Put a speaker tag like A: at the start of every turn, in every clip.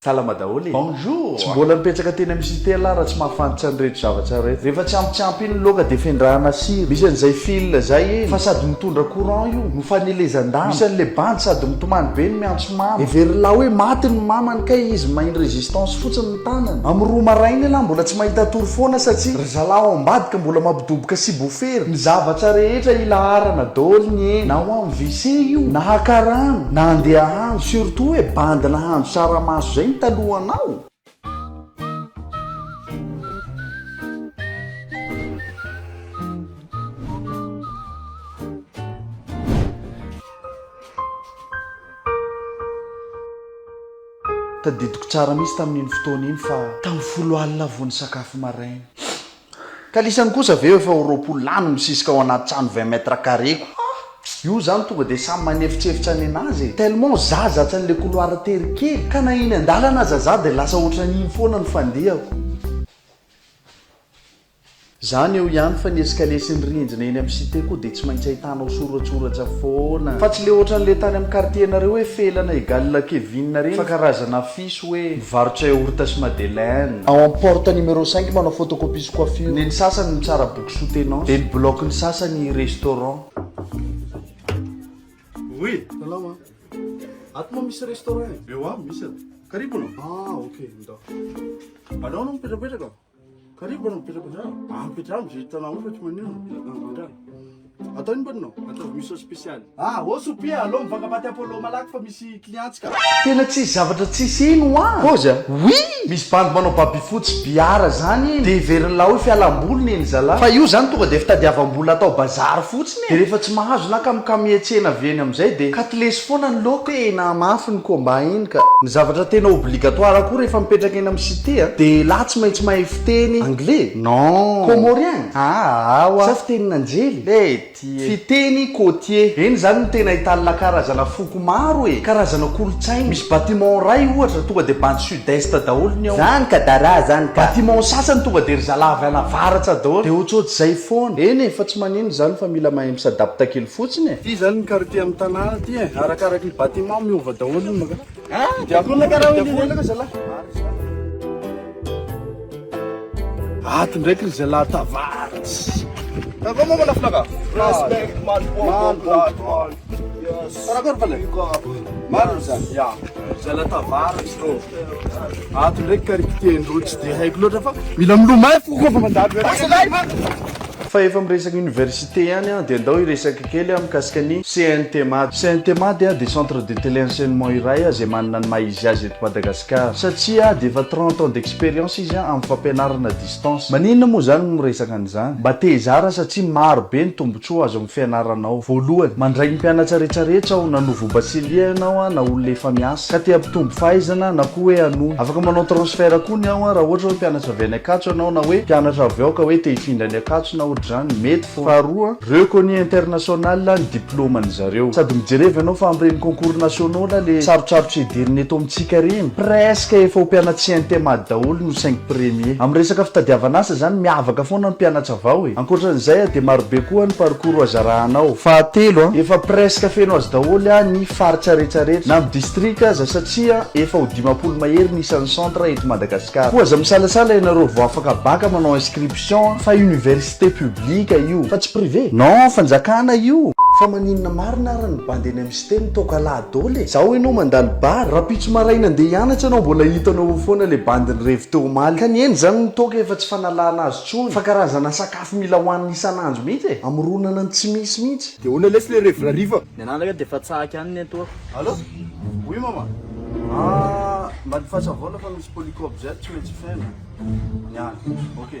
A: Salama daholo e! Bonjour! Tsy mbola nipetraka teny amin'ny cité lah raha tsy mahafantra an'ireto zavatra ireto. Rehefa tsy ampy tsy ampy iny ny loaka dia fendrahana sira. Misy an'izay fil izay eny fa sady mitondra courant io no fanelezan-damba. Misy an'ilay bandy sady mitomany be no miantso mama. Heverina hoe maty ny mamany kay izy main résistance fotsiny ny tanany. Amin'ny roa maraina elah mbola tsy mahita tory foana satsia ry zalahy ao ambadika mbola mampidoboka sibofery. Ny zavatra rehetra ilaharana daoly ny eny na ho am. Wc io na haka rano na handeha hahandro surtout hoe bandy nahandro tsaramaso zay ny talohanao. Tadidiko tsara mihitsy tamin'iny fotoana iny fa tamin'ny folo alina vao nisakafo maraina. Kalisany kosa ve efa ho roapolo lahy no misisika ao anaty trano vingt mètres carrés ko. Ah! Io zany tonga dia samy manefotsefotsa ny anazy e! Tellement za zatra an'ilay couloir tery kely ka na eny an-dalana aza za dia lasa ohatran'iny foana ny fandehako. Zany eo ihany fa ny escalier sy ny rindrina eny amin'ny cité koa dia tsy maintsy ahitanao soratsoratra foana. Fa tsy le ohatran'le tany amin'ny quartier-nareo hoe felana egal Kevin reny fa karazana. diso hoe mivarotra yaourt sy madeleine. Ao am porte numéro cinq manao photocopie sy coiffure. Neny sasany mitsara boky soutenance. Dia ny bloc ny sasany restaurant. Oui,
B: salama. Ato moa misy restaurant e? Eo aho, misy ato. Karibu no? Ah ok, ndao. Anao no mipetrapetraka? Karibu bwana mpita kwa sababu. Ah mpita hamu zita na ufa chuma nini? Ndio. Hata ni bwana. Hata miso special. Ah, osu pia alo mpaka pati hapo lo malaki fa misi clients ka. Tena tsisy zavatra
A: tsisy eny hoa. Pause a. Oui! Misy bandy manao baby fotsy biara zany eny. Dia heverin'lah hoe fialam-boly ny eny zala. Fa io zany tonga dia fitadiavam-bola atao bazary fotsiny. Dia rehefa tsy mahazo na kamokamietsena avy eny amin'izay dia katilesy foana ny loka. Tena mafy ny combat iny ka. Ny zavatra tena obligatoire koa rehefa mipetraka eny amin'ny cité a, dia elah tsy maintsy mahay fiteny anglais? Non. Comorien? Aa wa. Sa fitenin'anjely? Ety e. Fiteny côtier. Eny izany no tena ahitan'lah karazana foko maro e. Karazana kolontsaina. Misy bâtiment iray ohatra tonga dia bandy sud. Budhista daholo ny ao. Zany ka dara zany ka. Bâtiment sasany tonga de ry zalahy avy any avaratra daholo. De otrot'zay foana. Eny e, fa tsy manino izany fa mila mahay misadapta kely fotsiny e. Ty zany ny quartier am
B: Tana ty e, arakaraky ny bâtiment miova daholo ny maka. Aa de akona ka ra hoe lilelaka ry zalahy. Ato ndraiky ry zalahy tavaritss. Takao manko laflaka. Respect maly bobo. Karakôry pale? Marina izany? Ya, izay latavara izy tô. Ato ndraiky karikitian-drô tsy dia haiko loatra fa mila milomay fo koa fa mandalo ianao.
A: Fa efa miresaka université ihany an, dia ndao hiresaka kely an mikasika ny CNTMAD. CNTMAD dia centre de télé enseignement iray izay manana ny maha izy azy eto Madagasikara. Satsia dia efa trente ans d'expérience izy amin'ny fampianarana Maninona moa izany no miresaka an'izany? Mba te hizara satria maro be ny tombontsoa azo amin'ny fianarana ao. Voalohany, mandray ny mpianatra rehetra rehetra aho, na nouveau bachelier ianao an, na olona efa miasa, ka te hampitombo fahaizana, na koa hoe hanohy. Afaka manao transfert koa ny ao an, raha ohatra hoe mpianatra avy any Ankatso ianao, na hoe mpianatra avy ao ka hoe te hifindra any Ankatso na ohatr'izany, mety foana. Faharoa, reco ny international, ny. diplôme ny zareo. Sady mijereva ianao fa amin'ireny concours nationaux là le sarotsarotry hederina eto amintsika ireny presque efa ho mpianatsy intemad daholo no cinq premier. Amin'ny resaka fitadiavana asa izany miavaka foana ny mpianatsa vao e. Ankoatran'izay a dia marobe koa ny parcours hoazarahanao. Fahatelo a, efa presque feno azy daholo a ny faritraretsy rehetra na ny district aza satria efa ho dimampolo mahery ny isan'ny centre eto Madagascar. Koa aza misalasala ianareo vao afaka bac manao inscription a fa université Cité publique io fa tsy privé. Non fanjakana io. Fa maninona marina ary ny bandy eny amin'ny cité mitaoka lahy doly e? Zao enao mandalo bar, rapitso maraina andeha hianatra enao mbola hitanao eo foana le bandy nirevy teo omaly. Ka ny eny zany ny toaka efa tsy fanalana azy tsony fa karazana sakafo mila hoanina isan'andro mihitsy e! Amoronana ny tsy misy mihitsy. De ahoana lesy le revy rariva?
B: Ny anah ndraika dia efa tsahaky
C: any ny etoako. Allô?
B: Oui mama. Ah, mba ny fahatsavona fa misy polycope zay tsy maintsy feno. Ny any. Ok.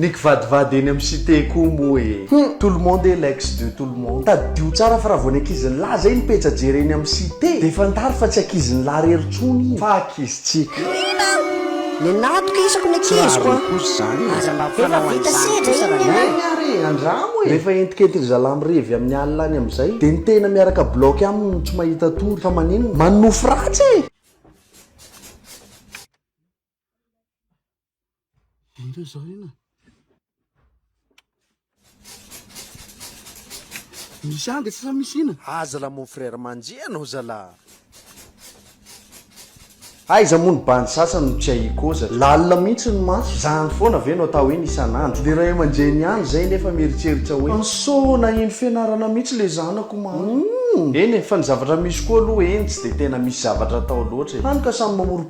B: Ny
A: kivadivady eny am site koa moa e! Tout le monde est l'ex de tout le monde. Tadidio tsara fa raha vao ny ankizin'lah zay no pejy ajery eny am site dia fantaro fa tsy ankizin'lah rery tsony iny fa ankizintsika.
D: Mino aho! Le natoka isako ny ankiziko an! Aza mba Efa vita sedra iny ny anay! Eny ary e! Andramo e! Rehefa
A: entikentindry zalah mirevy amin'ny alina any amin'izay dia ny tena miaraka block aminy no tsy mahita tory fa maninona? Manonofy ratsy e!
B: Indreo izao inona? Misy anga tsy sa misy ina? Aza la mon frère
A: manjia anao zala. Aiza moa ny bandy sasany no tsy ahiakoza? Lalina mihitsy ny maso. Zany foana ve no atao hoe ny isan'andro? Ny ray aman-dreny ihany izay nefa mieritseritra hoe. Anso naheno fianarana mihitsy le zanako maro. Eny e, fa ny zavatra misy koa aloha eny tsy dia tena misy zavatra atao loatra e. Hany ka samy mamory.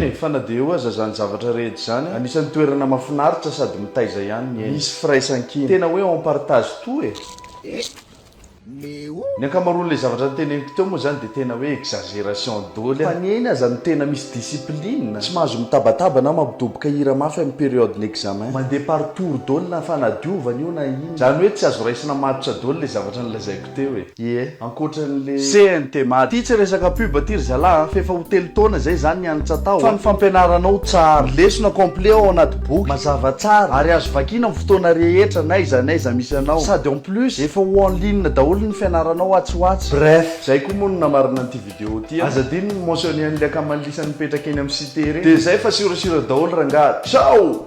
A: Eny e, fa na dia eo aza izany zavatra rehetra izany, anisan'ny toerana mahafinaritra sady mitaiza ihany ny aina. Misy firaisankina. Tena hoe on partage tout e! Ny ankamaroan'ilay zavatra noteneniko teo moa izany dia tena hoe exagération doly fa ny aina aza no tena misy discipline, tsy mahazo mitabataba na mampidoboka hira mafy amin'ny période-n'examen. Mandeha par tour doly na fanadiovana io na inona. Zany hoe tsy azo raisina matotra doly le zavatra nolazaiko teo e. Ie, ankoatran le. CNT Mad. Ty tsy resaka pub ty ry zalah a, f'efa ho telo taona zay zany nianatra tao a. Fa ny fampianaranao tsara. Lesona complet ao anaty boky, mazava tsara, ary azo vakina am fotoana rehetra n'aiza n'aiza misy anao. Sady en plus, efa ho en ligne daholo ny fianaranao atsy ho atsy. Bref, zay koa moa no namarana an'ity video ty a. Aza adino ny mentionner an'le akaman'i Lisa nipetraka eny am site reny. Dia zay fa siorasiora daholo rangah. Ciao!